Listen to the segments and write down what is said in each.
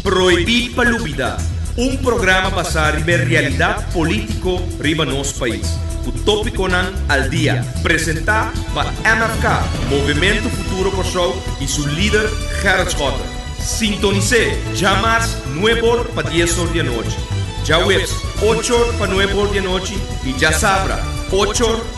Prohibí pa lubidá, un programa basá riba e realidat polítiko riba nos pais, ku tópikonan al dia, presentá pa MFK, Movementu Futuro Kòrsou, i su lider Gerrit Schotten. Sintonis'é djamars nueb or pa dies or di anochi, djaweps ocho or pa nueb or di anochi i djasabra ocho or.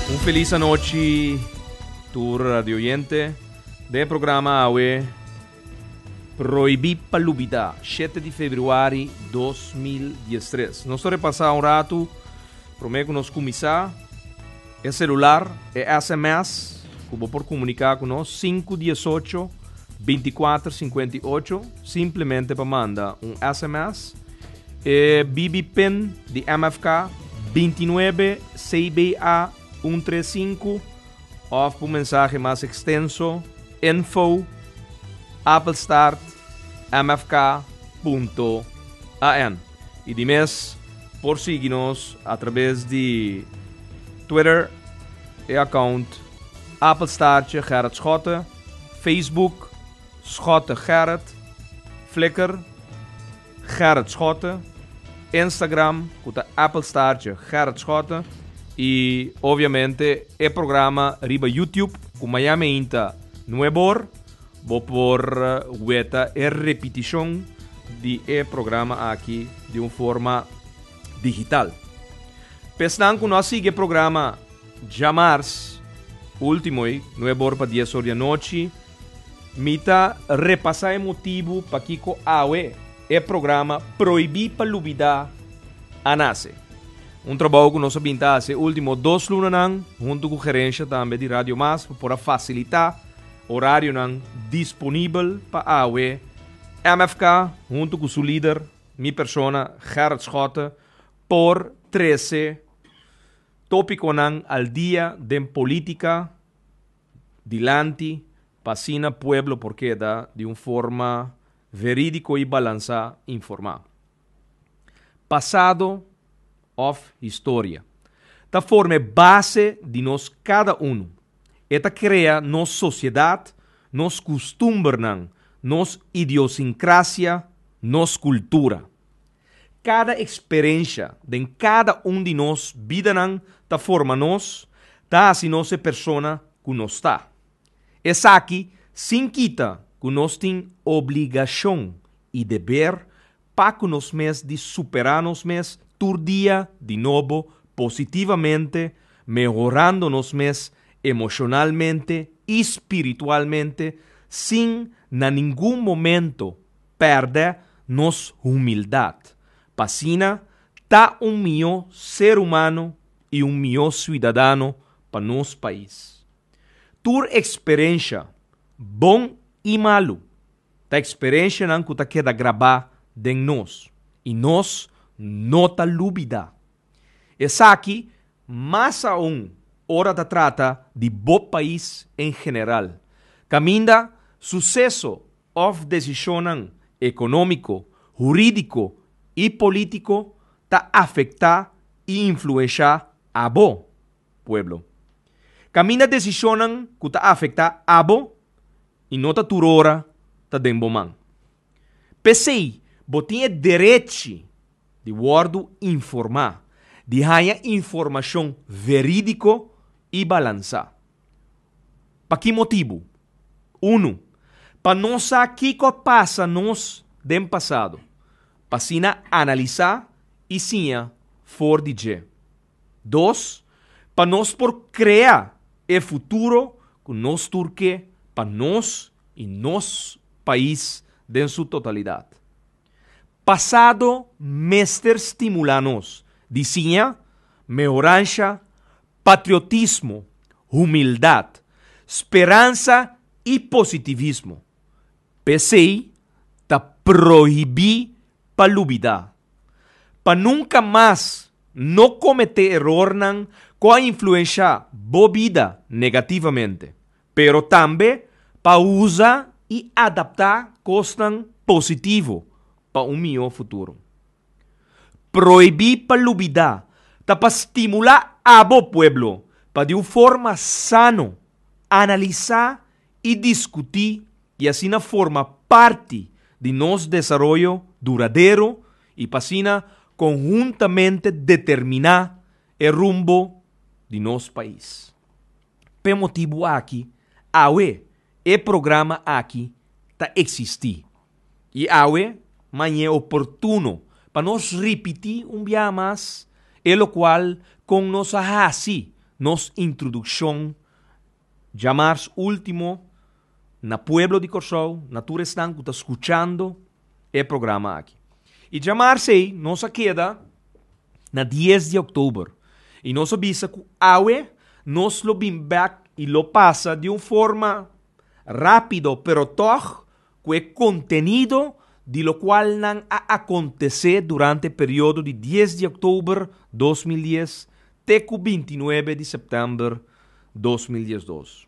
Un felis anochi tur radioyente. Den e programa awe Prohibí pa lubidá, shete di februari dos mil dies tres. Nos ta repasá un ratu, promé ku nos kuminsá, e selular, e sms ku bo por komuniká ku nos, sinku diesocho binti kuater sinkuenta i ocho, simplemente pa manda un sms. E BB pin di MFK binti nuebe CBA un tres sinku òf pa un mensahe mas ekstenso info apel start mfk punto AN. I di mes por sigui nos atrabes di Twitter e account apel staartje Gerrit Schotte, Facebook Schotte Gerrit, Flickr. Gerrit Schotte, Instagram cu ta Apple Staartje Gerrit Schotte y obviamente e programa riba YouTube cu Miami Heat ta nuebor, bo por weta e repeticion di e programa aki di un forma digital. Pa esnan cu no a sigui e programa djamars, ultimo ei, nuebor pa dies or di anochi, Mi ta repasá e motibu pakiko awe e programa Proibí pa Lubidá a nase. Un trabou ku nos a bin ta hasi e último dos lunanan huntu ku gerensha tambe di Radio Mas pa por a fasilitá orarionan disponibel pa awe. MFK huntu ku su lider, mi persona, Gerrit Schotte, por trese tópikonan al dia den polítika, dilanti pa asina pueblo por keda di un forma veridico y balansa informa. Pasado of historia ta forma e base di nos cada uno, e ta crea nos sociedad, nos custumbernan, nos idiosincrasia, nos cultura. Kada eksperensha den kada un di nos bidanan ta forma nos, ta hasi nos e persona ku nos ta. Esaki sin kita ku nos tin obligashon i deber pa ku nos mes di superá nos mes tur dia di nobo positivamente, mehorando nos mes emoshonalmente i spiritualmente sin na ningun momento pèrdè nos humildat, pa asina ta un mihó ser umano i un mihó suidadano pa nos pais. Tur eksperensha, bon i malu, ta eksperenshanan ku ta keda grabá den nos i nos no ta lubidá. Esaki mas aún ora ta trata di bo pais en general, kaminda suseso òf desishonnan ekonómiko, hurídiko i polítiko ta afektá i influenshá abo, pueblo. Kaminda desishonnan ku ta afektá abo i no ta tur ora ta den bo man. P'esei bo tin e derechi di wòrdu informá, di haña informashon verídiko i balansá. Pa ki motibu? Unu, pa nos sa kiko a pasa nos den pasado, pa asina analisá i siña for di dje. Dos, pa nos por krea e futuro ku nos tur ke pa nos i nos pais den su totalidat. Pasado mester stimulá nos di siña mehoransha, patriotismo, humildat, speransa i positivismo. P'esei ta prohibí pa lubidá. Pa nunka mas no kometé erornan ku a influenshá bo bida negativamente. pero tambe pa usa i adaptá kosnan positivo pa un mihó futuro. Prohibí pa lubidá ta pa stimulá abo pueblo pa di un forma sano analisá i diskutí i asina forma parti di nos desaroyo duradero i pa asina konhuntamente determiná e rumbo di nos pais. P'e motibu aki awe e programa aki ta eksistí i awe mañé oportuno pa nos ripití un biaha mas e lokual kon nos a hasi nos introdukshon djamars último na pueblo di Kòrsou, na tur esnan ku ta skuchando e programa aki. I dja mars ei nos a keda na dies di òktober i nos a bisa ku awe nos lo bin bèk i lo pasa di un forma rápido pero tòg ku e kontenido di lokual nan a akontesé durante e periodo di dies di òktober dos mil dies te ku binti nuebe di sèptèmber dos mil diesdos.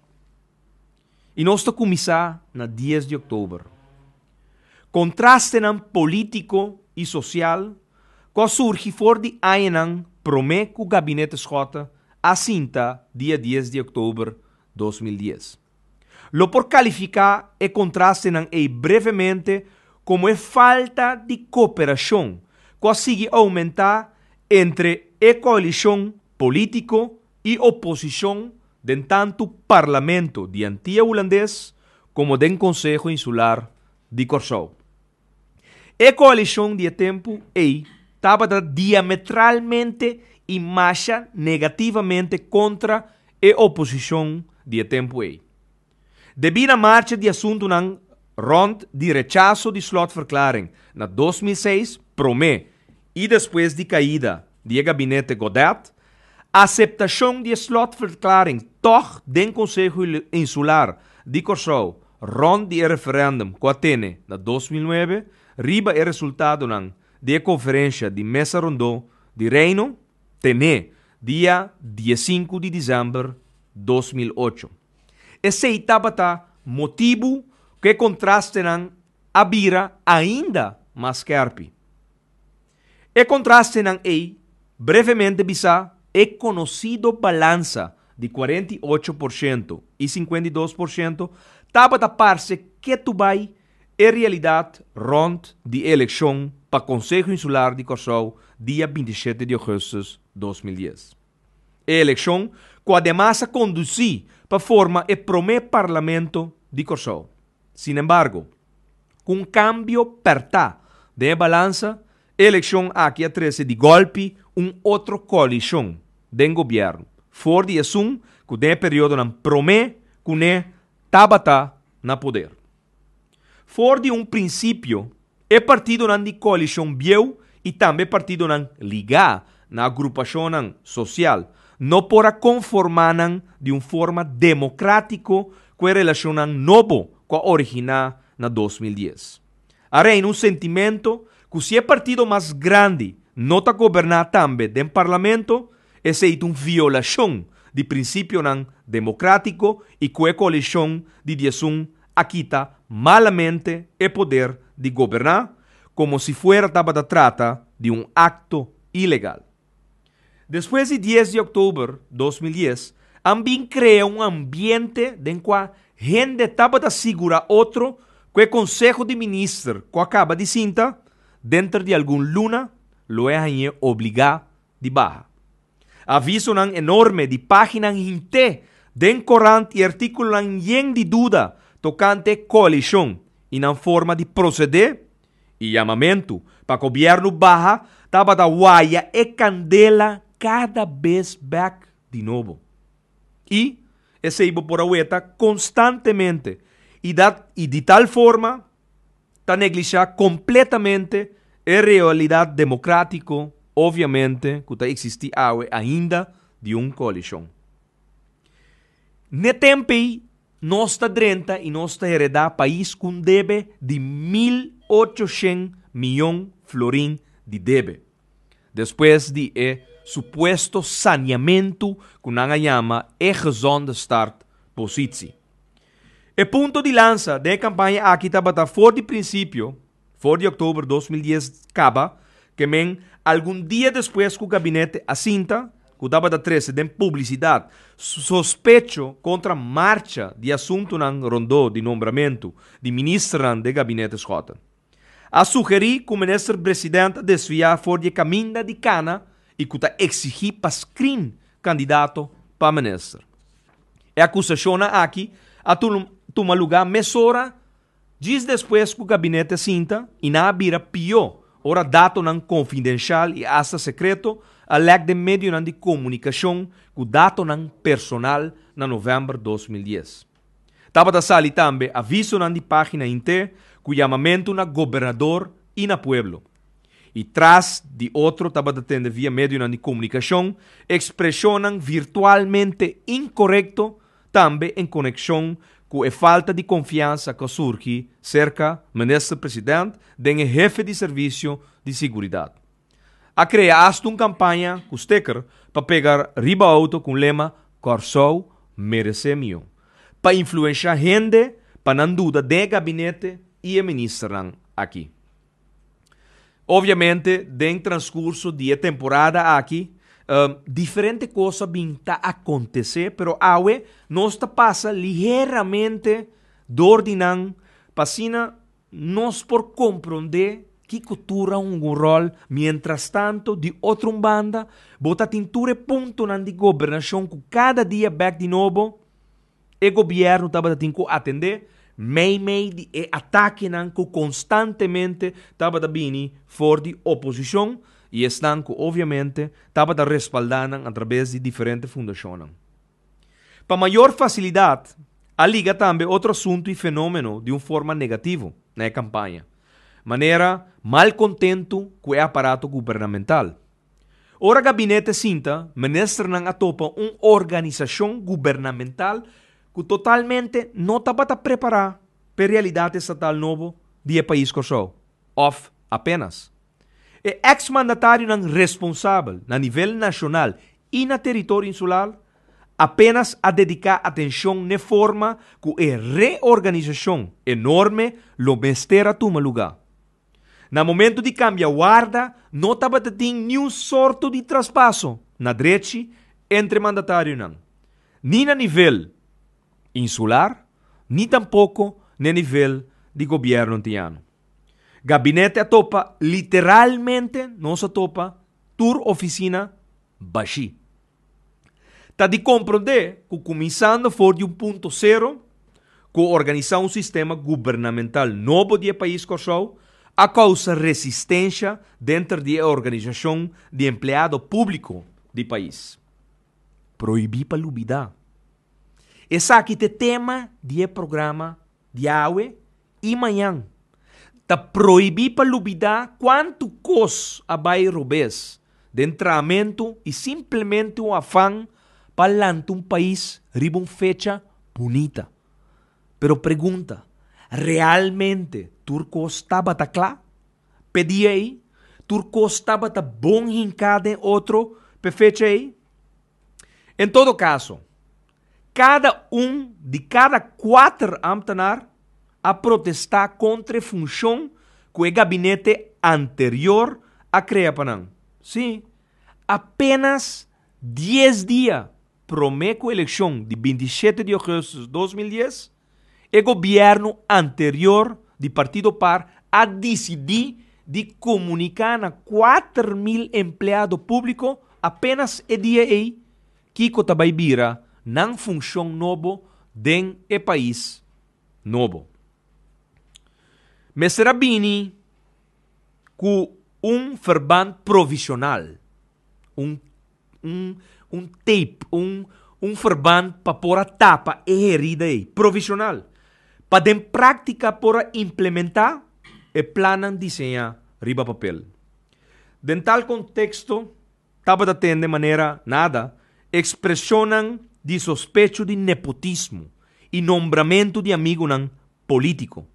I nos ta kuminsá na dies di oktober. Kontrastenan polítiko i sosial ku a surgi for di añanan promé ku Gabinete Schotte a sinta dia dies di oktober dos mil dies, lo por kalifiká e kontrastenan ei brevemente komo e falta di koperashon ku a sigui oumentá entre e koalishon polítiko i oposishon den tantu Parlamento di Antia Hulandes komo den Konseho Insular di Kòrsou. E koalishon di e tempu ei tabata diametralmente i masha negativamente kontra e oposishon di e tempu ei. Debí na marcha di asuntunan rònt di rechaso di slotverklaring na dos mil seis promé i despues di kaida di e gabinete Godet, aseptashon di e slotverklaring tòg den Konseho Insular di Kòrsou rònt di e referèndum ku a tene na dos mil nuebe riba e resultadonan di e konferensha di Mesa Rondó di Reino tené dia dies sinku di disember dos mil ocho. Esei tabata motibu ku e kontrastenan a bira ainda mas skèrpi. E kontrastenan ei brevemente bisá e konosido balansa di kuarenta i ocho por shento i sinkuenta i dos por shento tabata parse ketu bai e realidat rònt di e elekshon pa Konseho Insular di Kòrsou dia binti i shete di ogùstus dos mil dies. E elekshon ku ademas a kondusí pa forma e promé parlamento di Kòrsou. Sinembargo, ku un kambio pèrtá den e balansa, e elekshon aki a trese di gòlpi un otro koalishon den gobièrnu, for di esun ku den e periodonan promé kuné tabata na poder. For di un prinsipio, e partidonan di koalishon bieu i tambe partidonan ligá na agrupashonnan sosial no por a konformá nan di un forma demokratiko ku e relashonnan nobo ku a originá na dos mil dies. A reina un sentimentu ku si e partido mas grandi no ta goberná tambe den parlamento, Esei ta un violashon di prinsipionan demokratiko i ku e koalishon di diasun a kita malamente e poder di goberná komo si fuera tabata trata di un akto ilegal. Despues di dies di òktober dos mil dies a bin krea un ambiente den kua hende tabata sigurá otro ku e konseho di minister ku a kaba di sinta denter di algun luna lo e hañ'é obligá di baha. Avisonan enorme di páginanan hint'é den korant i artíkulonan yen di duda tokante koalishon i nan forma di prosedé i yamamentu pa gobièrnu baha tabata waya e kandela kada bes bèk di nobo. I esei bo por a weta konstantemente i dat i di tal forma ta neglishá kompletamente e realidat demokratiko, opviamente, ku ta eksistí awe ainda di un koalishon. N'e tempu ei nos ta drenta i nos ta heredá pais ku un debe di mil ocho shen miyon florin di debe. Despues di e supuesto saniamentu ku nan a yama e gezonde start positsi. E punto di lansa den e kampaña aki tabata for di prinsipio, for di oktober dos mil dies kaba, ke men algun dia despues ku gabinete a sinta, ku tabata trese den publisidat sospecho kontra marcha di asuntunan rondó di nombramentu di ministernan den gabinete Schotten. a sugerí ku Minister President ta desviá for di e kaminda di kana i ku ta eksigí pa screen kandidato pa minister. E akusashonnan aki a tuma lugá mesora djis despues ku gabinete a sinta i nan a bira pió ora datonan konfidenshal i asta sekreto a lèk den medionan di komunikashon ku datonan personal na novèmber dos mil dies. Tabata sali tambe avisonan di página inte ku yamamentu na gobernador i na pueblo. I tras di otro tabata tende via medionan di komunikashon ekspreshonnan virtualmente inkorekto tambe en konekshon ku e falta di konfiansa ku a surgi serka Minister President den e hefe di servisio di siguridat. a krea asta un kampaña ku steker pa pega riba outo ku un lema Kòrsou meresé mihó, pa influenshá hende pa nan duda den e gabinete i e ministernan aki. Oviamente den transkurso di e temporada aki diferente kosa bin ta akontesé pero awe nos ta pasa liheramente dor di nan pa asina Nos por komprondé ki kutura a hunga un ròl. Mientrastantu, di otro un banda, bo ta tin tur e puntonan di gobernashon ku kada dia bèk di nobo e gobièrnu tabata tin ku atendé, meimei di e atakenan ku konstantemente tabata bini for di oposishon i esnan ku obviamente tabata respaldá nan atrabes di diferente fundashonnan. Pa mayor facilidad a liga tambe otro asunto y fenomeno di un forma negativo na e campaña, manera mal contento cu e aparato gubernamental. Ora gabinete sinta, ministernan a topa un organisacion gubernamental cu totalmente no tabata prepara p'e realidad estatal nobo di e pais Corsou, of apenas. E eks mandatarionan responsabel na nivel nashonal i na teritorio insular apenas a dediká atenshon n'e forma ku e reorganisashon enorme lo mester a tuma lugá. Na momentu di kambia warda no tabata tin niun sorto di traspaso na drechi entre mandatarionan, ni na nivel insular ni tampoko n'e nivel di gobièrnu antiñano. Gabinete a topa literalmente nos a topa tur ofisina bashí. Ta di komprondé ku kuminsando for di un punto sero ku organisá un sistema gubernamental nobo di e pais Kòrsou a kousa resistensha denter di e organisashon di empleado públiko di pais. Prohibí pa lubidá. Esaki ta e tema di e programa. Diawe i mañan. Ta prohibí pa lubidá kuantu kos a bai robes den traamentu i simplemente un afan pa lanta un pais riba un fecha bunita. Pero pregunta, Realmente tur kos tabata kla? P'e dia ei, tur kos tabata bon hinká den otro p'e fecha ei? En todo kaso, kada un di kada kuater ámtenar a protestá kontra e funshon ku e gabinete anterior a krea pa nan. Sí, apénas dies dia promé ku elekshon di binti i shete di ogùstus dos mil dies, E gobierno anterior di partido par a dicidi di comunica na kuater mil empleado publico apenas e dia ey kico ta bay bira nan funcion nobo den e pais nobo. Mester a bini cu un verband provisional, un un un teip un un ferband pa por a tapa e herida ei provisional pa den praktika por a implementá e plannan diseñá riba papel. Den tal konteksto tabata ten den manera nada ekspreshonnan di sospecho di nepotismo i nombramentu di amigunan polítiko.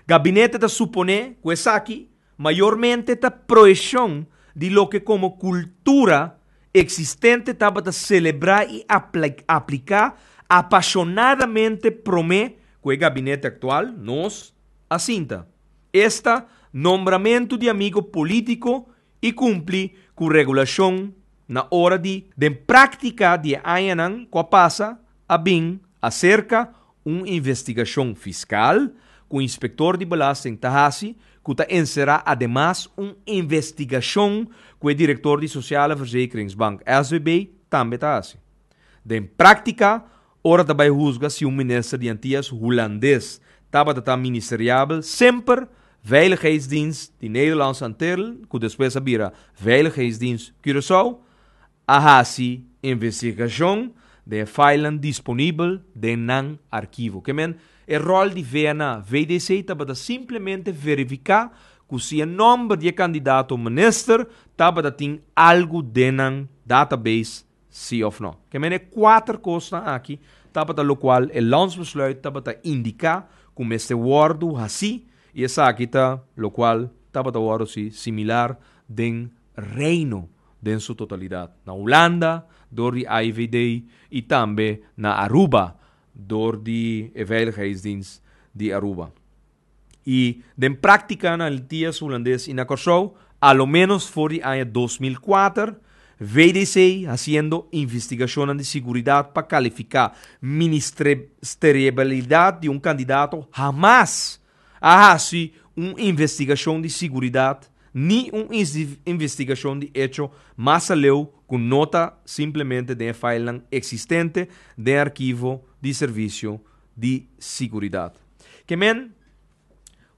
Gabinete ta suponé ku esaki mayormente ta proyekshon di loke komo kultura eksistente tabata selebrá i apliká apashonadamente promé ku e gabinete aktual, nos, a sinta. Esta, Nombramentu di amigo polítiko i kumpli ku regulashon na ora di. Den práktika di e añanan ku a pasa a bin aserka un investigashon fiskal ku inspektor di belasting ta hasi ku ta enserá ademas un investigashon ku e direktor di Sociale Verzekeringsbank, SVB, tambe ta hasi. Den práktika Ora ta bai husga si un minister di Antias Hulandes tabata ta ministeriabel semper Veiligheidsdienst di Nederlandse Antillen, ku despues a bira Veiligheidsdienst Curaçao, a hasi investigashon den e filenan disponibel den nan arkivo. Ke men, e ròl di VNA, VDC tabata simplemente verifiká ku si e nòmber di e kandidato minister tabata tin algu den nan database, Sí of no. Ke men e kuater kosnan aki tabata lokual e Landsbesluit tabata indiká ku mester wòrdu hasí i esaki ta lokual tabata wòrdu si similar den Reino den su totalidat, na Hulanda dor di AIVD i tambe na Aruba dor di e Veiligheidsdienst di Aruba. I den práktika na Antias Hulandes i na Kòrsou, a lo ménos for di aña dos mil kuater, VDC hasiendo investigashonnan di siguridat pa kalifiká ministereabilidat di un kandidato hamas a hasi un investigashon di siguridat ni un investigashon di echo mas aleu ku no ta simplemente den e filenan eksistente den arkivo di Servisio di siguridad. Ke men,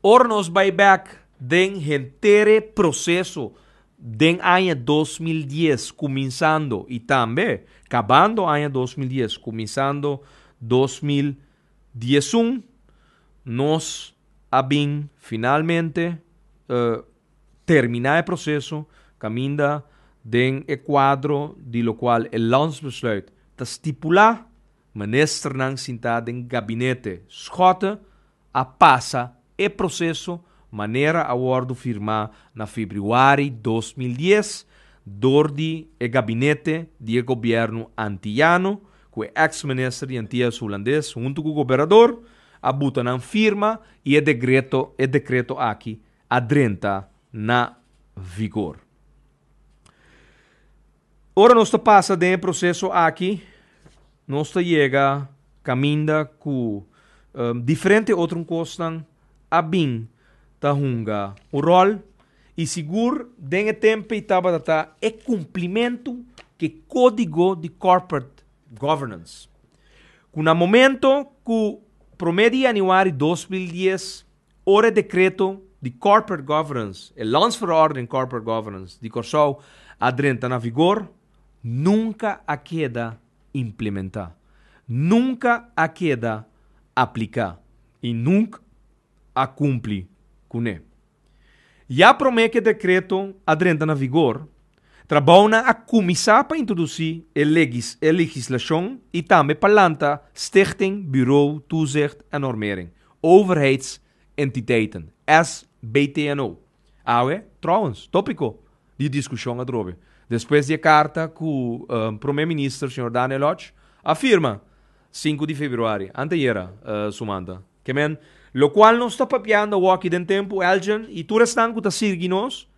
ora nos bai bek den hentere proseso den aña dos mil dies kuminsando i tambe kabando aña dos mil dies kuminsando dos mil diesun, nos a bin finalmente terminá e proseso kaminda den e kuadro di lokual e Landsbesluit ta stipulá. Ministernan sintá den gabinete Schotte a pasa e proseso manera a wòrdu firmá na febrüari dos mil dies dor di e gabinete di e gobièrnu antiyano ku e èks minister di Antillas Hulandes huntu ku goberador a buta nan firma i e degreto e dekreto aki a drenta na vigor. Ora nos ta pasa den e proseso aki, nos ta yega kaminda ku diferente otro kosnan a bin ta hunga un ròl i sigur den e tempe tabata ta e kumplimentu ku e Kódigo di Corporate Governance, ku na momento ku promé di yanüari dos mil dies, Ora e Dekreto di Corporate Governance, e Landsverordening Corporate Governance, di Kòrsou a drenta na vigor, nunka a keda implementá, nunka a keda apliká i nunk a kumpli kuné. Ya promé ku e dekreto a drenta na vigor, Trabounan a kuminsá pa introdusí e legislashon i tambe pa lanta Stichting Bureau Toezicht en Normering, Overheidsentiteiten, SBTNO. Awe, trouwens, tópiko di diskushon atrobe, despues di e karta ku Prome Minister señor Daniel Lodge a firma sinku di februari, anteayera sumanta. Ke men, lokual nos ta papiando awoa aki den tempu, Elgin i tur esnan ku ta sirgi nos,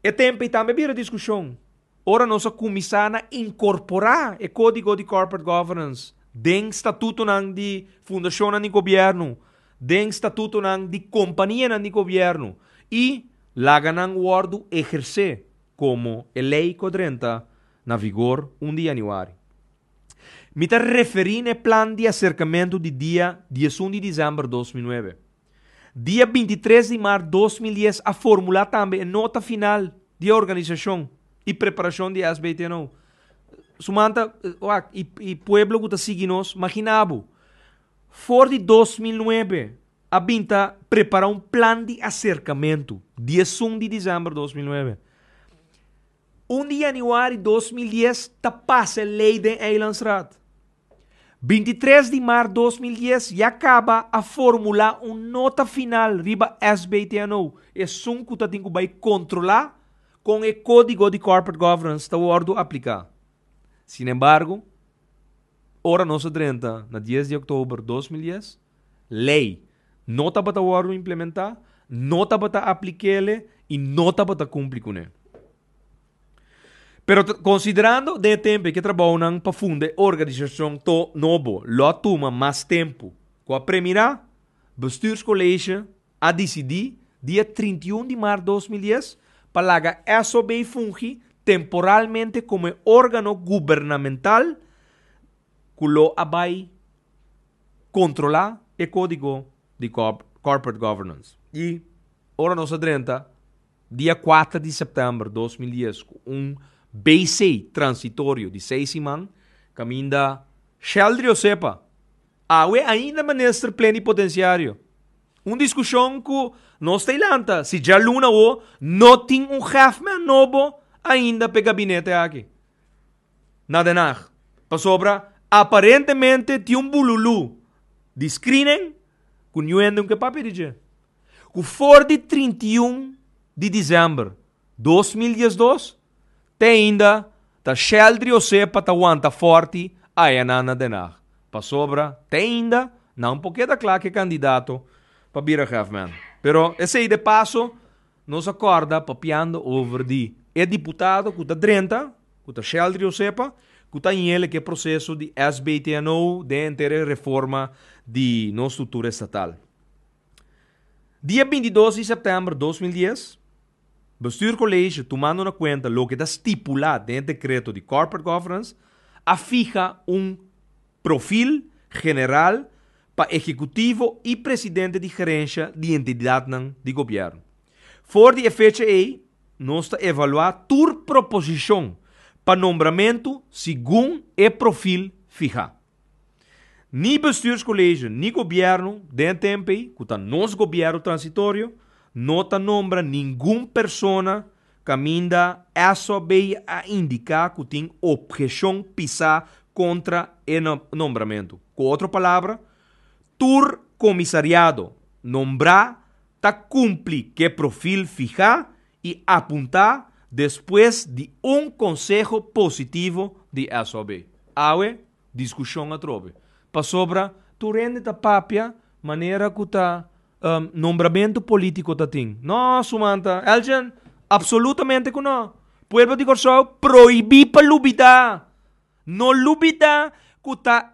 E tempe i tambe bira diskushon ora nos a kuminsá na inkorporá e Kódigo di Corporate Governance den statutonan di fundashonnan di gobièrnu, den statutonan di kompanianan di gobièrnu i laga nan wòrdu ehersé komo e lei ku a drenta na vigor un di yanüari. Mi ta referí na e plan di aserkamentu di dia diesun di desèmber dos mil nuebe. Dia binti tres di mart dos mil dies a formulá tambe e nota final di e organisashon i preparashon di e SBTNO. Suman ta, wak, i i pueblo ku ta sigui nos, makina bo, for di dos mil nuebe a bin ta prepará un plan di aserkamentu, di esun di desèmber dos mil nuebe. Un di yanüari dos mil dies ta pasa e lei den Eilandsraad. 23 di mar 2010 ya kaba a formulá un nota final riba SBTNO, esun ku ta tin ku bai kontrolá kon e Kódigo di Corporate Governance ta wòrdu apliká. Sinembargo, ora nos a drenta na dies di oktober 2010, lei no tabata wòrdu implementá, no tabata aplikele i no tabata kumpli kuné. Pero tra konsiderando de e tempu i ke trabounan pa funda e organisashon to nobo lo a tuma mas tempu. Ku a premirá, Bestuurskolleezje a disidí dia trinta i un di mart dos mil dies pa laga SOB fungi temporalmente komo e órgano gubernamental ku lo a bai kontrolá e Kódigo di Corporate Governance. I ora nos a drenta Dia kuater di sèptèmber dos mil dies ku un BC transitorio di seis siman kaminda Sheldrio Sepa awe ainda minister plenipotenciario. Un diskushon ku nos ta e lanta si dja luna awó no tin un hèfman nobo ainda p'e gabinete aki na Den Haag pasobra aparentemente tin un bululú di screening ku niuende un ke papia di dje. ku for di trinta i un di desèmber dos mil dies dos te ainda ta sheldri ose pa ta wanta fòrti ayanan na Den Haag pasobra te ainda nan por keda kla ke kandidato pa bira hèfman. Pero esei de paso nos a kòrda papiando over di e diputado ku ta drenta ku ta sheldri ose pa ku ta ñele ke proseso di SBTNO den enter e reforma di nos struktura estatal. Dia bintidos di sèptèmber dos mil dies, Bestuur College, tumando na kuenta loke ta stipulá den e Dekreto di Corporate Governance, a fiha un Profil General pa Ekekutivo i Presidente di Gerensha di Entidatnan di Gobièrnu. For di e fecha ei, nos ta evaluá tur proposishon pa nombramentu segun e profil fihá. Ni bestuurscolegio ni gobierno den tempo ei, cu ta nos gobierno transitorio, no ta nombra ningun persona caminda eso bay a indica cu tin obgecion pisa contra e nombramento. Cu otro palabra, tur comisariado nombra ta cumpli cu e profil fiha, y apunta despues di un conseho positivo di SOB. Awe discusion atrobe pasobra tur hende ta papia manera cu ta nombramento politico ta tin. No sumanta Elgin, absolutamente cu no! Pueblo di Corsou prohibi pa lubida, no lubida cu ta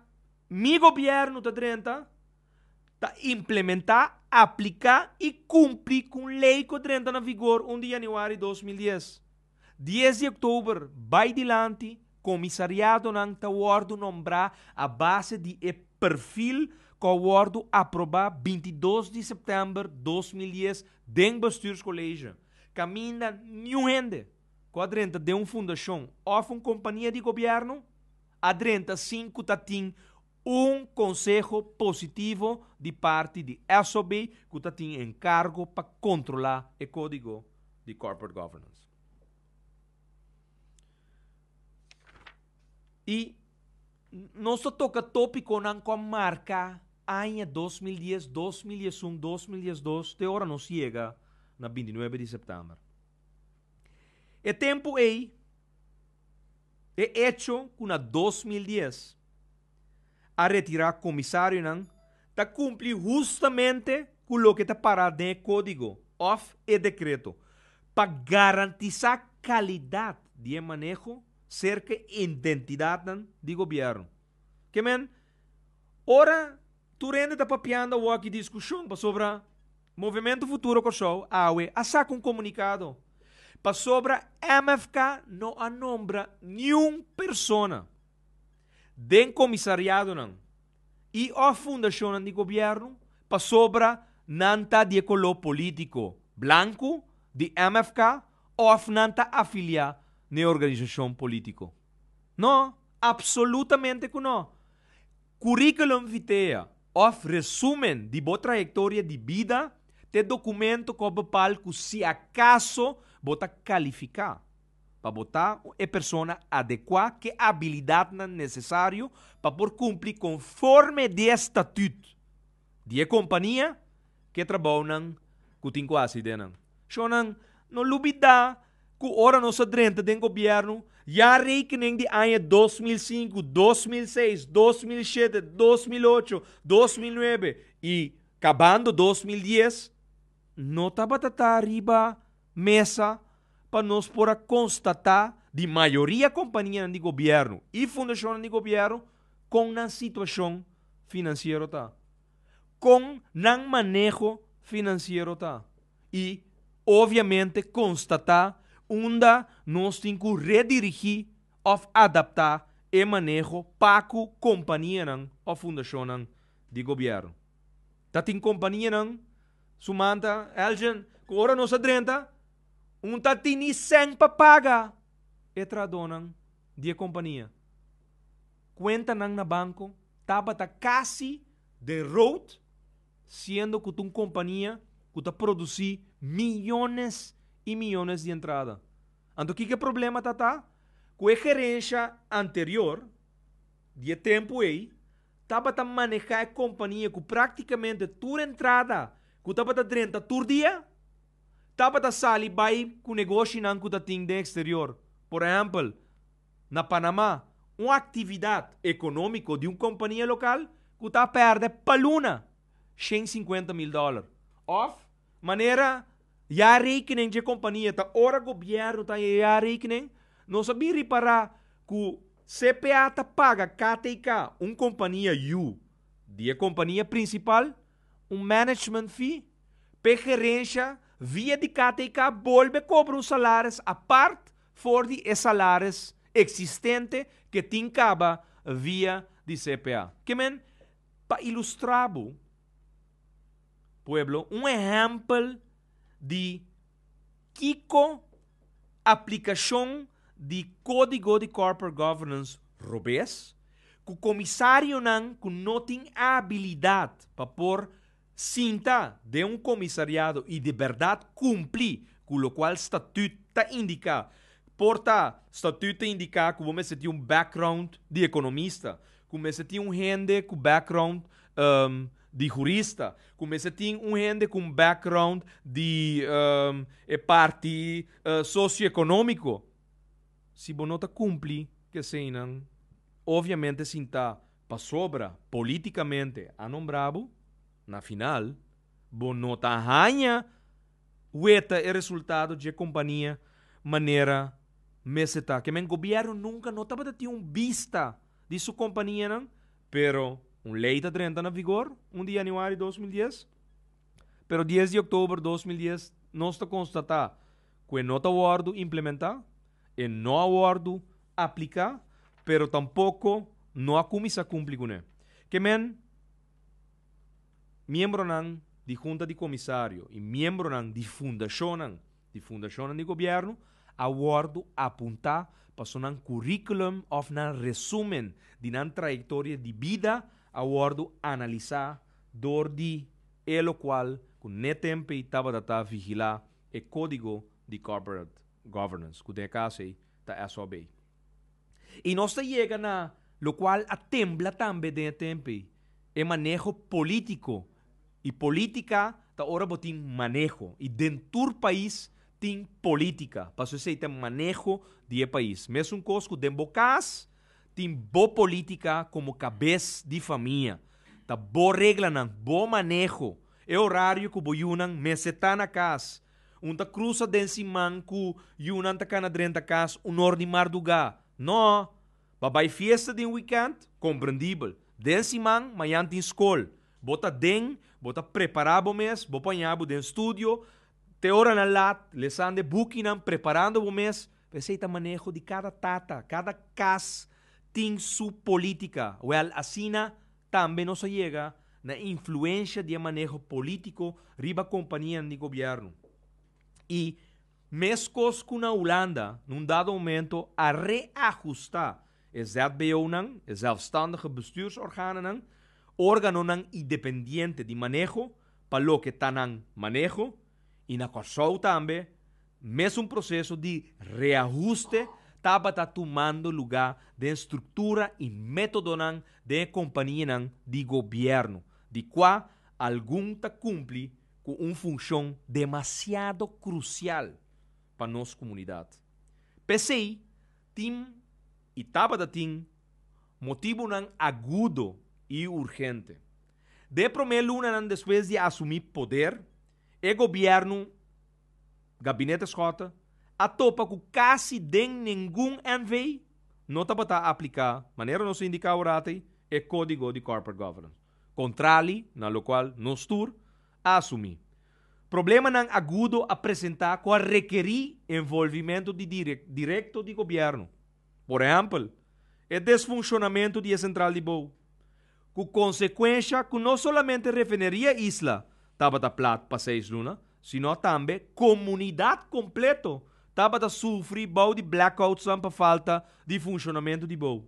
mi gobierno ta drenta. ta implementá, apliká i kumpli ku un lei ku a drenta na vigor un di yanüari dos mil dies. Dies di oktober bai dilanti komisariadonan ta wòrdu nombrá a base di e perfil ku a wòrdu aprobá binti dos di sèptèmber dos mil dies den Bestuurscollege. Kaminda niun hende ku a drenta den un fundashon òf un kompania di gobièrnu a drenta sin ku ta tin Un konseho positivo di parti di SOB ku ta tin enkargo pa kontrolá e Kódigo di Corporate Governance. I nos ta toka topikonan ku a marka aña dos mil dies, dos mil dies un, dos mil dies dos te ora nos yega na binti nuebe di sèptèmber. E tempu ei. E echo cu na dos mil dies a retira comisarionan ta cumpli hustamente cu loke ta para den e codigo of e decreto pa garantisa calidad di e maneho cerca e identidadnan di gobierno. Ke men, ora tur hende ta papiando awor aki discusion pasobra Movimento Futuro Kòrsou, awe, a saka un komunikado pasobra MFK no a nombra niun persona den komisariadonan i òf fundashonnan di gobièrnu pasobra nan ta di e koló polítiko blanku di MFK òf nan ta afiliá na e organisashon polítiko. No, apsolutamente ku no! Curriculum vitae of resumen di bo trayectoria di bida t'e documento cu a bepal cu si acaso bo ta califica pa bo ta e persona adecua c'e abilidadnan necesario pa por cumpli conforme di e statut di e kompania ku e trabounan ku tin ku hasi den nan. Shonnan, no lubidá ku ora nos a drenta den gobièrnu, ya rekening di aña dos mil sinku, dos mil seis, dos mil shete, dos mil ocho, dos mil nuebe i kabando dos mil dies, no tabata ta riba mesa pa nos por a konstatá di mayoria kompanianan di gobièrnu i fundashonnan di gobièrnu Kon nan situashon finansiero ta? Kon nan maneho finansiero ta? I, obviamente, konstatá unda nos tin ku redirigí òf adaptá e maneho pa ku kompanianan òf fundashonnan di gobièrnu. Ta tin kompanianan, su man ta Elgin, ku ora nos a drenta un ta tini sèn pa paga e trahadónan di e kompania. kuentanan na banko tabata kasi den rood, siendo ku ta un kompania ku ta produsí miyones i miyones di entrada. Anto kiko e problema ta ta? Ku e gerensha anterior di e tempu ei tabata manehá e kompania ku práktikamente tur entrada ku tabata drenta tur dia tabata sali bai ku negoshinan ku ta tin den eksterior. Por ehèmpel. Na Panamá, un aktividat ekonómiko di un kompania lokal ku ta pèrdè pa luna shen sinkuenta mil dòler. Òf, manera jaarrekening dje kompania ta ora gobièrnu ta e jaarrekening, nos a bin ripará ku CPA ta paga KTK, un kompania yu di e kompania prinsipal, un management fee, p'e gerensha via di KTK bolbe kobra un salaris apart for di e salaris eksistente ke tin kaba via di CPA. Ke men pa ilustrá bo, pueblo, un ehèmpel di kiko aplikashon di Kódigo di Corporate Governance robes ku komisarionan ku no tin abilidat pa por Sinta den un komisariado i di bèrdat kumpli ku lokual statüt ta indiká. Por ta, statüt ta indiká ku bo mester tin un background di ekonomista, ku mester tin un hende ku background di hurista, ku mester tin un hende ku un background di e parti sosioekonómiko. Si bo no ta kumpli ku eseinan, oviamente sinta. Pasobra politicamente a nombra bo, na final bo no ta haña weta e resultado dje compania manera mester ta. Ke men gobierno nunca no tabata tin un bista di su companianan, pero un ley ta drenta na vigor un di januari dos mil dies, pero dies di october dos mil dies nos ta constata cu e no ta wordo implementa, e no a wordo aplica pero tampoco no a cuminsa cumpli cu ne. Kemen miembronan di hunta di comisario y miembronan di fundacionnan, di fundacionnan di gobierno, a wordo apunta pasobra nan curriculum of nan resumen di nan trayectoria di bida a wordo analisa door di e lo cual cu n'e tempo ey tabata ta vigila e codigo di corporate governance cu den e caso ey Ta SOB. I nos ta yega na locual a tembla tambe den e tempe. E maneho politico i politica ta ora bo tin maneho i den tur pais tin politica pasobra esey ta maneho di e pais. Mesun cos cu den bo cas tin bo politica como cabes di famia. Ta bo reglanan, bo maneho. E horario cu bo yunan mester ta na cas Un ta krusa den siman ku yunan ta kana drenta kas un or di mardugá. Nò! Pa bai fiesta den wikènt? Komprendibel. Den siman, mañan tin skol. Bo ta den, bo ta prepará bo mes, bo pañá bo den studio te oranan lat, lesando e bukinan, preparando bo mes. Pero esei ta maneho di kada tata. Kada kas tin su polítika. Wèl, asina. Tambe nos a yega na influensha di e maneho polítiko riba kompanianan di gobièrnu. I meskos ku na Hulanda, na un dado momento a reahustá e ZBOnan, e Zelfstandige Bestuursorganennan, órganonan independiente di maneho, pa loke ta nan maneho, I na Kòrsou tambe mesun proseso di reahuste tabata tumando lugá den struktura i métodonan den e kompanianan di gobièrnu, di kua algun ta kumpli ku un funshon demasiado krusial pa nos komunidat. P'esei tin i tabata tin motibunan agudo i urgente. Dé promé lunanan despues di a asumí poder, e gobièrnu, Gabinete Schotte, a topa ku kasi den ningun NV no tabata a apliká, manera nos a indiká oratei, e Kódigo di Corporate Governance, kontrali na lokual nos tur a asumí. Problemanan agudo a presentá ku a rekerí envolvimentu di direkto di gobièrnu. Por ehèmpel, e desfunshonamentu di e sentral di bou, Ku konsekuensha ku no solamente refineria e isla tabata plat pa seis luna, sino tambe komunidat kompleto tabata sufri bou di blackoutsan pa falta di funshonamentu di bou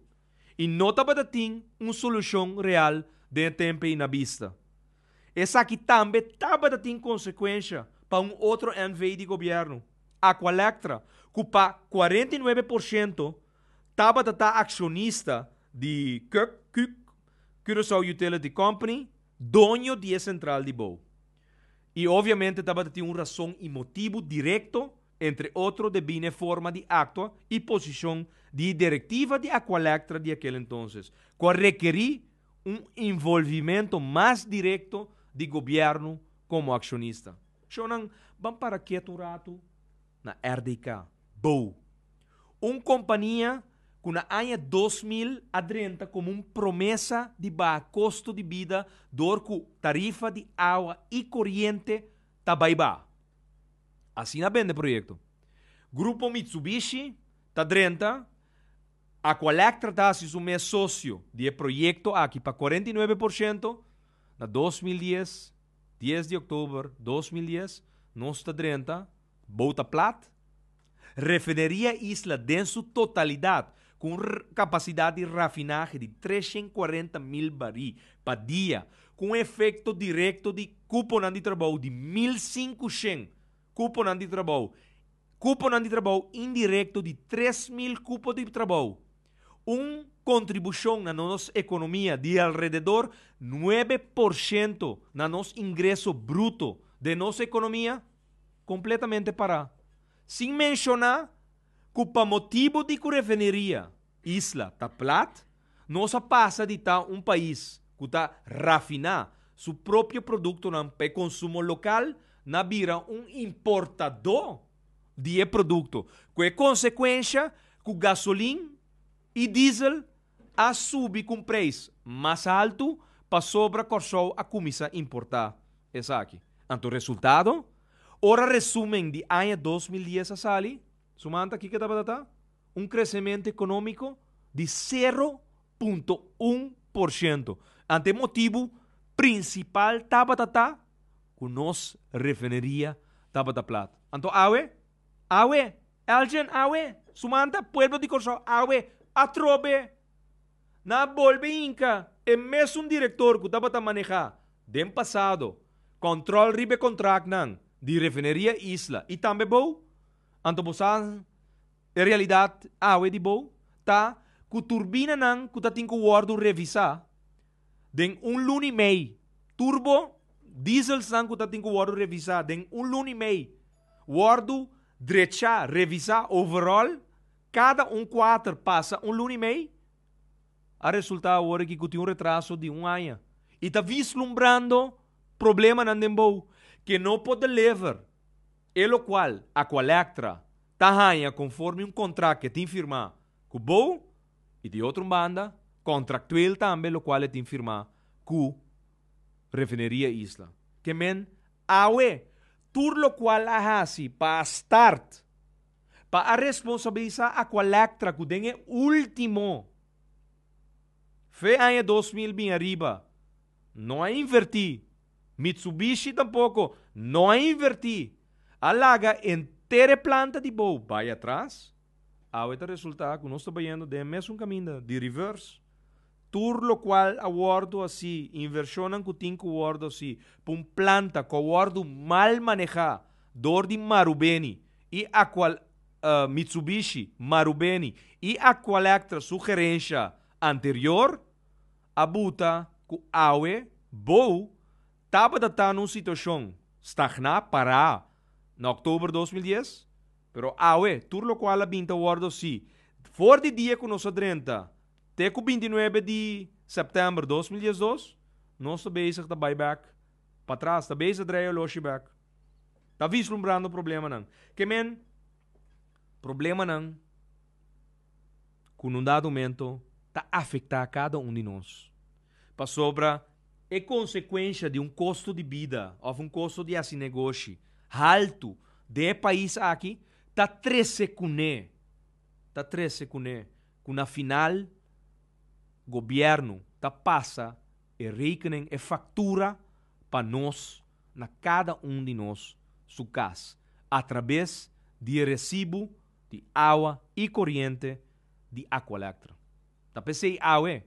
i no tabata tin un solushon real den e tempe na bista. Esaki tambe tabata tin konsekuensha pa un otro NV di gobièrnu, Aqualectra, ku pa kuarenta i nuebe por shento Tabata ta accionista di Kuk, Kuk, Curaçao Utility Company, doño di e central di bou. Y obviamente tabata tin un razon y motibu directo, entre otro debine e forma di actua y posicion di e directiva di Aqualectra di aquel entonces, cu a requeri un involvimento mas directo di gobierno como accionista. Shownan, ban para kiet un ratu Na RDK, Bou. Un kompania ku na aña dos mil a drenta komo un promesa di baha kosto di bida dor ku tarifa di awa i koriente ta bai baha. Asina bende proyekto. Grupo Mitsubishi ta drenta, Aqualectra ta hasi su mes sosio di e proyekto aki pa kuarenta i nuebe por shento na dos mil dies. Dies di oktober dos mil dies nos ta drenta bouta plat refineria Isla den su totalidat ku un kapasidat di rafinahe di tres shen kuarenta mil barí pa dia ku un efekto direkto di kuponan di trabou di mil sinku shen kuponan di trabou kuponan di trabou indirekto di tres mil kupo di trabou. un kontribushon na nos ekonomia di alrededor nuebe porshento na nos ingreso bruto den nos ekonomia kompletamente pará. Sin menshoná ku pa motibu di ku refineria isla ta plat, nos a pasa di ta un pais ku ta rafiná su propio produktonan pa e konsumo lokal na bira un importadó di e produkto, ku e konsekuensha ku gasolin i diesel a subi ku un preis mas altu pasobra Kòrsou a kuminsá importá esaki. Anto resultado? Ora resumen di aña dos mil dies a sali, su manta kiko tabata ta? Un kresementu ekonómiko di sero punto un por ciento. Ante e motibu principal tabata ta cu nos refineria tabata plat. Anto awe? Awe! Elgin, awe! Sumanta, pueblo di Corsou, awe! Atrobe! Nan a bolbe hinca e mesun director cu tabata maneha den pasado control riba e contracnan di Refineria Isla y tambe bo? Anto bo sa E realidat awe di bou ta cu turbinanan cu ta tin cu wordo revisa den un luna y mei, turbo dieselsnan cu ta tin cu wordo revisa den un luna y mei, wordo drecha, revisa, overhaul, cada un cuater pasa un luna y mei, a resulta awor aki cu tin un retraso di un aña y ta vislumbrando problemanan den bou, que no por deliver, e locual, Aqualectra, ta haña konforme un kontrakt ku e tin firmá ku bo i di otro banda kontraktueel tambe lokual e tin firmá ku Refineria Isla. Ke men awe tur lokual a hasi pa a start pa a responsabilisá Aqualectra ku den e último fe aña dos mil bin ariba no a invertí, Mitsubishi tampoko no a invertí, a laga enter e planta di bou bai atras. Awe ta resultá ku nos ta bayendo den e mesun kaminda di rivers. Tur lokual a wòrdu así, invershonnan ku tin ku wòrdu así pa un planta ku a wòrdu mal manehá dor di Marubeni i Aqual, Mitsubishi, Marubeni i Aqualectra su gerensha anterior, a buta ku awe, bou, tabata ta na un situashon stagná, pará, na oktober dos mil dies, pero awe tur lokual a bin ta wòrdu si for di dia ku nos a drenta te ku binti nuebe di sèptèmber dos mil dies dos, nos ta bezig ta bai bèk patras, ta bezig dreia loshi bèk, ta vislumbrando problemanan. Ke men, problemanan. ku un dado momento ta afektá kada un di nos. Pasobra e konsekuensia di un kosto di bida òf un kosto di hasi negoshi haltu den e pais aki ta trese kuné, ta trese kuné ku na final gobièrnu ta pasa e rekening, e faktura pa nos na kada un di nos su kas atrabes di e resibu di awa y coriente di Aqualectra. Ta pesey awe.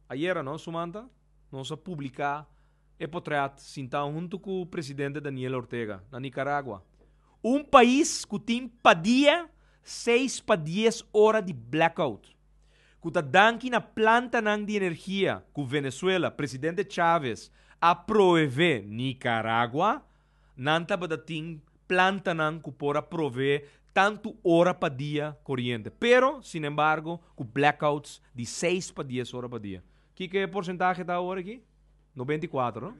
Ayera no, sumanta, nos a publica e potret sinta hunto cu presidente Daniel Ortega na Nicaragua. Un pais cu tin pa dia seis pa dies ora di blackout, cu ta danki na plantanan di energia cu Venezuela, presidente Chavez, a proeve Nicaragua, Nan tabata tin plantanan ku por a proveé tantu ora pa dia koriente, pero sin embargo ku blackouts di seis pa dies ora pa dia. Kiko e porsentahe ta awor aki? Noventa i kuater, no?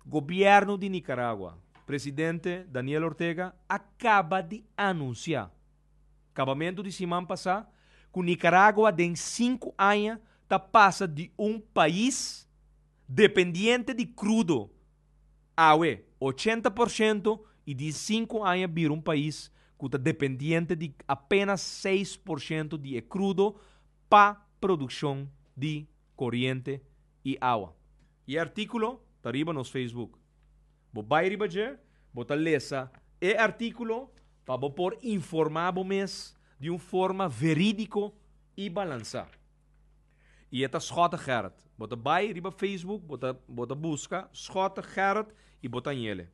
Gobièrnu di Nikaragua, presidente Daniel Ortega a kaba di anunsiá, kabamentu di siman pasá, ku Nikaragua den sinku aña ta pasa di un pais, Dependiente di crudo, awe ochenta por ciento y di sinku aña bira un pais cu ta dependiente di apenas seis por ciento di e crudo pa produccion di coriente y awa. E articulo ta riba nos Facebook. Bo bay riba dje, bo ta lesa e articulo pa bo por informa bo mes di un forma veridico y balansa. I e ta Schotte Gerrit. Bo ta bai riba Facebook, bo ta bo ta buska Schotte Gerrit i bo ta hanyele.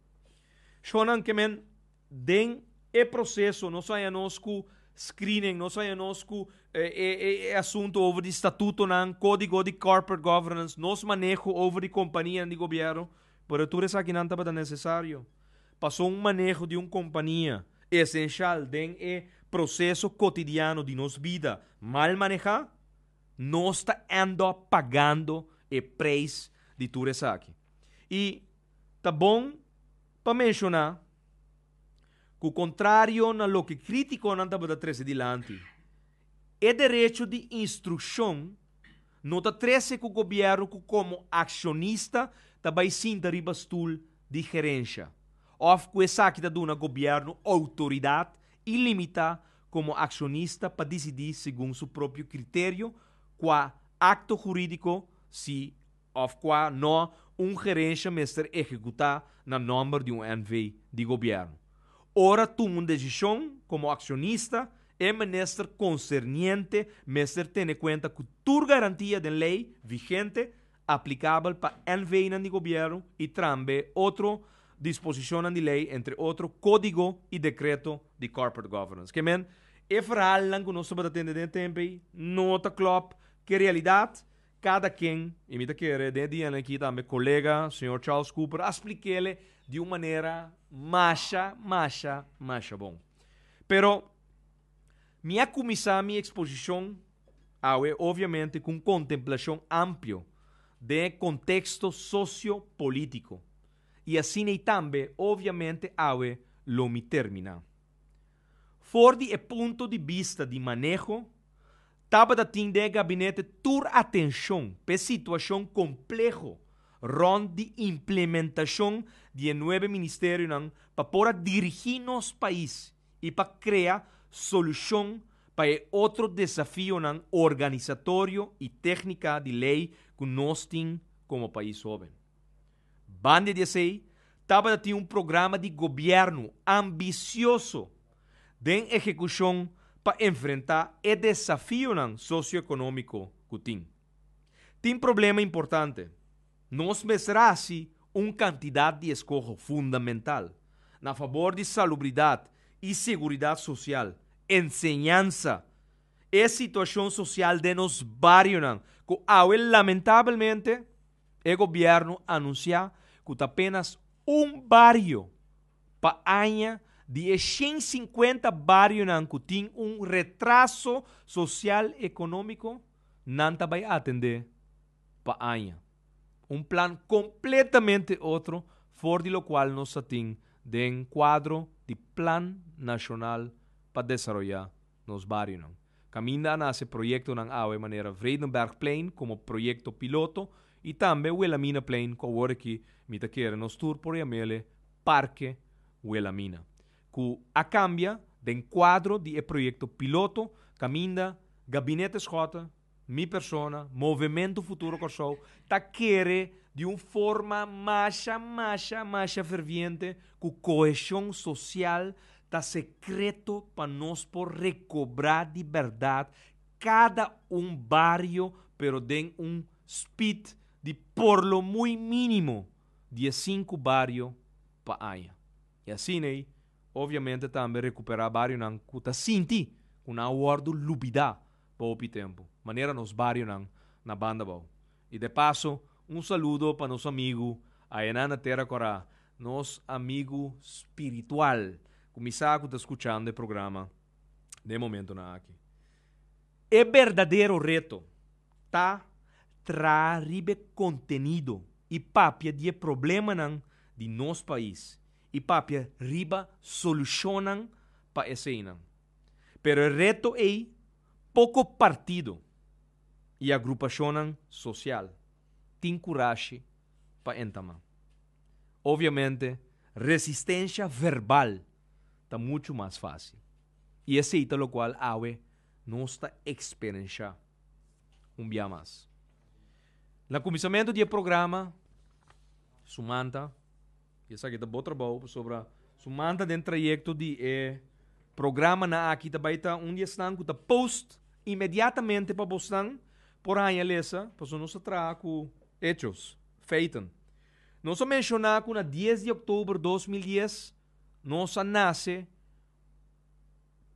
Shonnan ke men den e proseso nos a hañanos ku screening, nos a hañanos ku e e e e asuntu over di statutonan, kódigo di corporate governance, nos maneho over di kompanianan di gobièrnu, Pero tur esakinan tabata nesesario. Pasobra un maneho di un kompania esenshal den e proseso kotidiano di nos bida mal manehá, nos ta end up pagando e preis di tur esaki. I ta bon pa menshoná ku kontrario na loke kritikonan tabata trese dilanti, e derecho di instrukshon, No ta trese ku gobièrnu ku komo akshonista ta bai sinta riba stul di gerensha, òf ku esaki ta duna gobièrnu outoridat ilimitá komo akshonista pa disidí segun su propio kriterio kua akto hurídiko si òf kua nò un gerensha mester ehekutá na nòmber di un NV di gobièrnu. Ora tuma un desishon komo akshonista, E minister concerniente mester tene cuenta cu tur garantia den ley vigente aplicabel pa NVInan di Gobierno y trambe otro disposicionnan di ley, entre otro Codigo y Decreto di Corporate Governance. Ke men, e verhalnan cu nos tabata tende den e tempo ey no ta clop cu e realidad. Kada ken, i mi ta kere den e dianan aki tambe kolega señor Charles Cooper a splik'ele di un manera masha, masha, masha bon. Pero mi a kuminsá mi eksposishon awe obviamente ku un kontemplashon amplio den e konteksto sosio-polítiko i asina i tambe obviamente awe lo mi terminá. For di e punto di bista di maneho Tabata tin den e gabinete tur atenshon pa e situashon kompleho rònt di implementashon di e nuebe ministerionan pa por a dirigí nos pais i pa krea solushon pa e otro desafionan organisatorio i téknika di lei ku nos tin komo pais hóben. Bandia di esei, tabata tin un programa di gobièrnu ambisioso den ehekushon pa enfrentá e desafionan sosioekonómiko ku tin. Tin problema importante. Nos mester hasi un kantidat di eskoho fundamental na fabor di salubridat i seguridat sosial, enseñansa, e situashon sosial den nos barionan ku awe lamentabelmente e gobièrnu anunsiá ku ta apenas un bario Pa aña, di e shen sinkuenta barionan ku tin un retraso sosial ekonómiko, nan ta bai atendé pa aña. Un plan kompletamente otro for di lokual nos a tin den kuadro di Plan Nashonal pa Desaroyá nos barionan. Kaminda a nase proyektonan awe manera Vredenbergplein komo proyekto piloto i tambe Wilaminaplein ku awor aki mi ta kere nos tur por yam'e Parke Wilamina ku a kambia den kuadro di e proyekto piloto kaminda Gabinete Schotten Mi persona, Movementu Futuro Kòrsou ta kere di un forma masha, masha, masha ferviente ku koheshon sosial ta sekreto pa nos por rekobrá di bèrdat kada un bario pero den un spit di por lo muy mínimo dies sinku bario pa aña i asina ei obviamente tambe rekuperá barionan ku ta sinti ku nan a wòrdu lubidá. pa hopi tempu, manera nos barionan na Bandabou. I de paso, un saludo pa nos amigu ayana na Tera Corá, nos amigu spiritual cu mi sa cu ta scuchando e programa den e momentonan aki. E berdadero reto ta traha riba e contenido i papia di e problemanan di nos pais i papia riba solucionnan pa eseinan. pero e reto ei poko partido i agrupacionnan social tin curashi pa entamá. Obviamente resistencia verbal ta mucho mas fácil i esei ta locual awe nos ta experenciá un bia mas. Na cuminsamentu di e programa sumanta Y esaki ta bo trabou pasobra su man ta den trayecto di e programanan aki ta bay ta un di esnan cu ta post inmediatamente pa bosnan por haya lesa pasobra nos ta traha cu hechos, feiten. Nos a menciona cu na dies di october dos mil dies nos a nace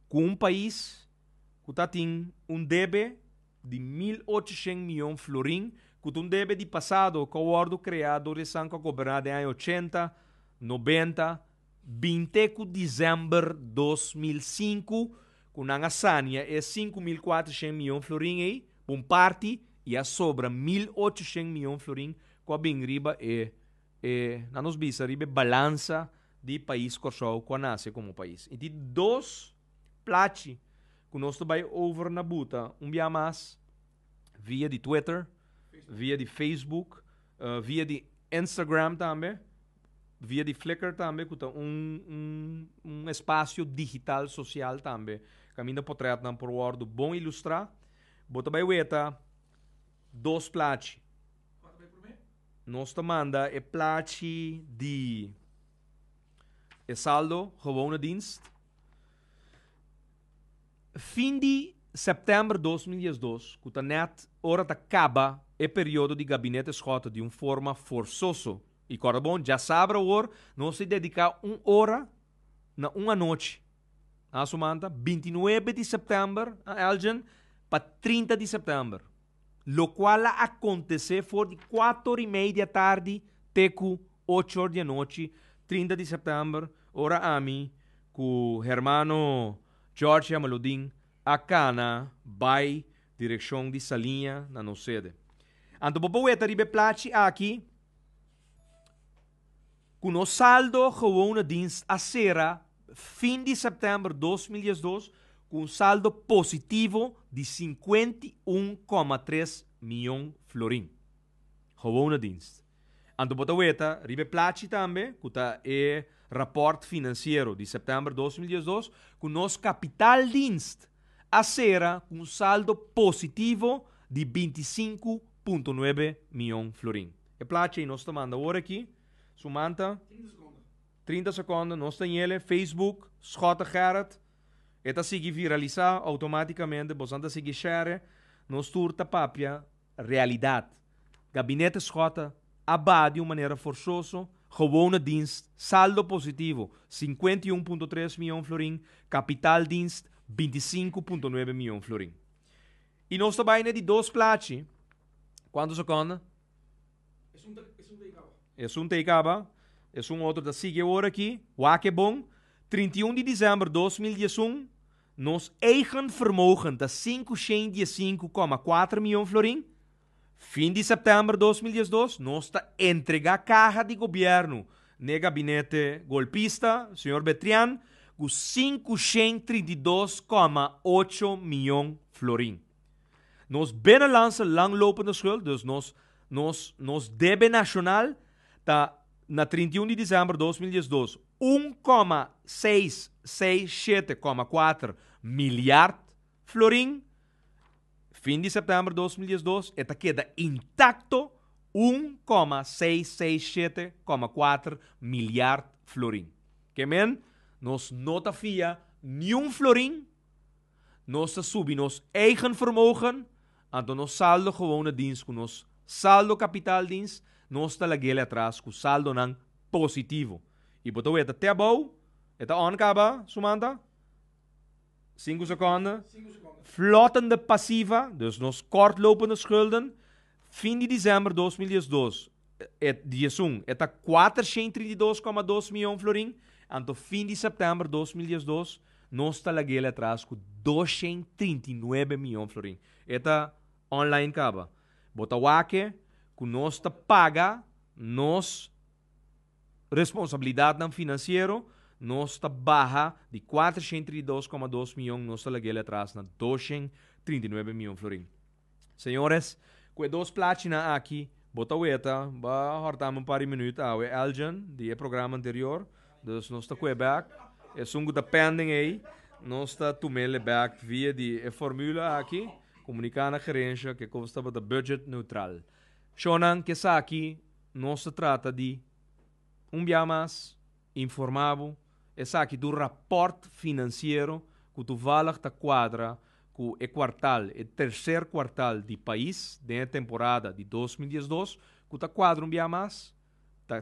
cu un pais. ku ta tin un debe di mil ocho shent mion florin, ku ta un debe di pasado, ku a wòrdu kreá dor e san ku a goberná den aña ochenta, nobenta, binte ku desèmber dos mil sinku, ku nan a sania e sinku mil kuater shent mion florin ei pa un parti i a sobra mil ocho shent mion florin ku a bin riba e e nan nos bisa riba e balansa di pais Kòrsou ku a nase komo pais. I tin dos. Plachi cu nos ta bay over na buta un bia mas via di Twitter, via di Facebook, via di Instagram tambe, via di Flickr tambe cu ta un espacio digital social tambe. Caminda potretnan por wordo bon ilustra. Bo ta bay weta dos plachi. Nos ta manda e plachi di. E saldo gewone dienst. Fin di september dos mil diesdos, cu ta net ora ta caba e periodo di Gabinete Schotten di un forma forzoso, y corda bon, djasabra awor nos e dedica un ora na un anochi, asumanta binti nuebe di september, Elgin, pa trinta di september. locual a acontece for di cuato or y mei di a tardi te cu ocho or di anochi, trinta di september, ora ami cu hermano George Yamaludin a cana bay direccion di Saliña na nos sede. Anto bo por weta riba e plachi aki, Ku nos saldo gewone dins a sera fin di sèptèmber dos mil dies dos ku un saldo positivo di sinkuenta i un koma tres mion florin. Gewone dins. Anto bo ta weta riba e plachi tambe, ku ta e rapòrt finansiero di sèptèmber dos mil dies dos, ku nos kapital dins a sera ku un saldo positivo di binti sinku punto nuebe mion florin. E plachi nos ta manda ora aki. Su man ta? Trinta sekonden. Trinta sekonden. Nos ta ñele Facebook, Schotten Gerrit. E ta sigui viralisa outomaticamente. Bosan ta sigui share. Nos tur ta papia realidad. Gabinete Schotten a ba di un manera forsoso. Gewone dienst, saldo positivo, cincuenta y un punto tres millon florin. Kapitaaldienst, binti sinku punto nuebe millon florin. I nos ta bai na di dos plachi. Cuanto seconda? E asunto ei caba. E asun otro ta sigui awor aki. Wak e bon. Trinta i un di december dos mil diesun, nos eigen vermogen ta sinku shent diesinku coma kuater mion florin. Fin di september dos mil diesdos nos ta entregá kaha di gobièrnu n'e gabinete golpista, señor Betrian, ku sinku shen trinta i dos kòma ocho mion florin. Nos binnenlandse langlopende skuld, dus nos nos nos debe nashonal, ta na trinta i un di disember dos mil diesdos un kòma seis seis shete kòma kuater milyard florin, Fin di sèptèmber dos mil diesdos e ta keda intakto un koma seis seis shete koma kuater milyard florin. Ke men, nos no ta fia niun florin, nos ta subi nos eigen vermogen, anto nos saldo gewoon a dins ku nos saldo kapital dins, nos ta lag'el'e atras ku saldonan positivo. I bo ta weta te abou e ta ònt kaba, Sumanta? Sinku sekonde. Flotende pasiva, dus nos kòrtlopende skulden, fin di disember dos mil dies dos, e diesun, e ta kuatershent trinta i dos koma dos mion florin, anto fin di september dos mil dies dos, nos ta lag'el atras ku doshent trinta i nuebe mion florin. E ta online kaba. Bo ta wak e ku nos ta paga nos. Responsabilidatnan finansiero, Nos ta baha di kuater shen trinta i dos koma dos mion, nos ta lag'el atras na dos shen trinta i nuebe mion florin. Señores, ku e dos plachinan aki, bo ta weta, bo a hòrtami un par di minüt awe, Elgin, di e programa anterior, dus nos ta kue bèk, esun ku ta pending ei, nos ta tum'el e bèk via di e formula aki, komuniká na gerensha kiko bo tabata budget neutral. Shònan, ke sa aki. Nos ta trata di un biaha mas informa bo esaki tur raport finansiero ku tuvalig ta kuadra ku e kuartal, e terser kuartal di pais den e temporada di dos mil dies dos ku ta kuadra un biaha mas ta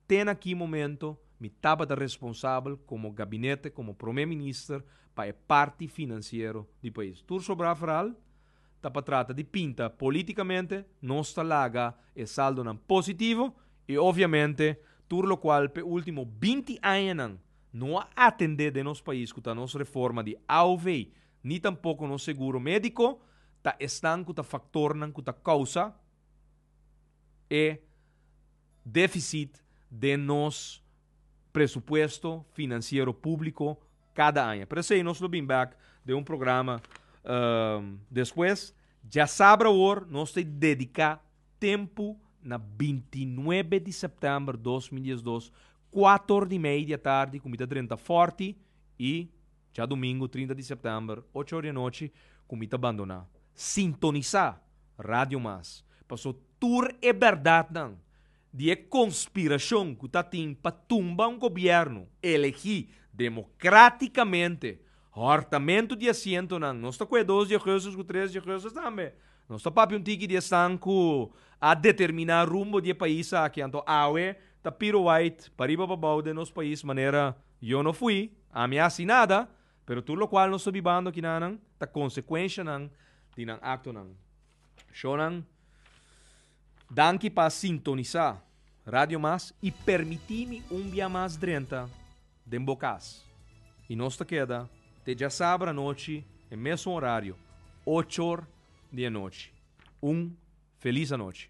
te na ki momento mi tabata responsabel komo gabinete, komo prome minister pa e parti finansiero di pais. Tur sobra verhal. ta pa trata di pinta politicamente, nos ta laga e saldonan positivo y obviamente tur locual p'e ultimo binti añanan no a atende den nos pais cu ta nos reforma di AOV ni tampoco nos seguro medico ta esnan cu ta factornan cu ta causa e deficit den nos presupuesto financiero publico kada aña. Pero esei nos lo bin bek den un programa despues. Dja sabra awor, nos ta dediká tempu na binti nuebe di sèptèmber dos mil dies dos, kuater di mei di atardi ku mi ta drenta fòrti i dja dumingu trinta di sèptèmber ocho or di anochi ku mi ta bandoná. Sintonisá Radio Mas, paso tur e bèrdatnan, di e konspirashon ku ta tin pa tumba un gobièrnu elegí demokratikamente, hòrtamentu di asientonan, nos ta ku e dos djegeusers ku tres djegeusers tambe, nos ta papia un tiki di esnan ku a determiná rumbo di e pais aki, anto awe ta piro wait pariba pa bou den nos pais manera yo no fui, ami a hasi nada, pero tur lokual nos ta bibando akinanan ta konsekuenshanan di nan aktonan. Shownan. Danki pa sintonisa Radio Mas y permiti mi un bia mas drenta den bo cas. Y nos ta keda te djasabra anochi e mesun horario, ochor di e nochi. Un feliz anochi.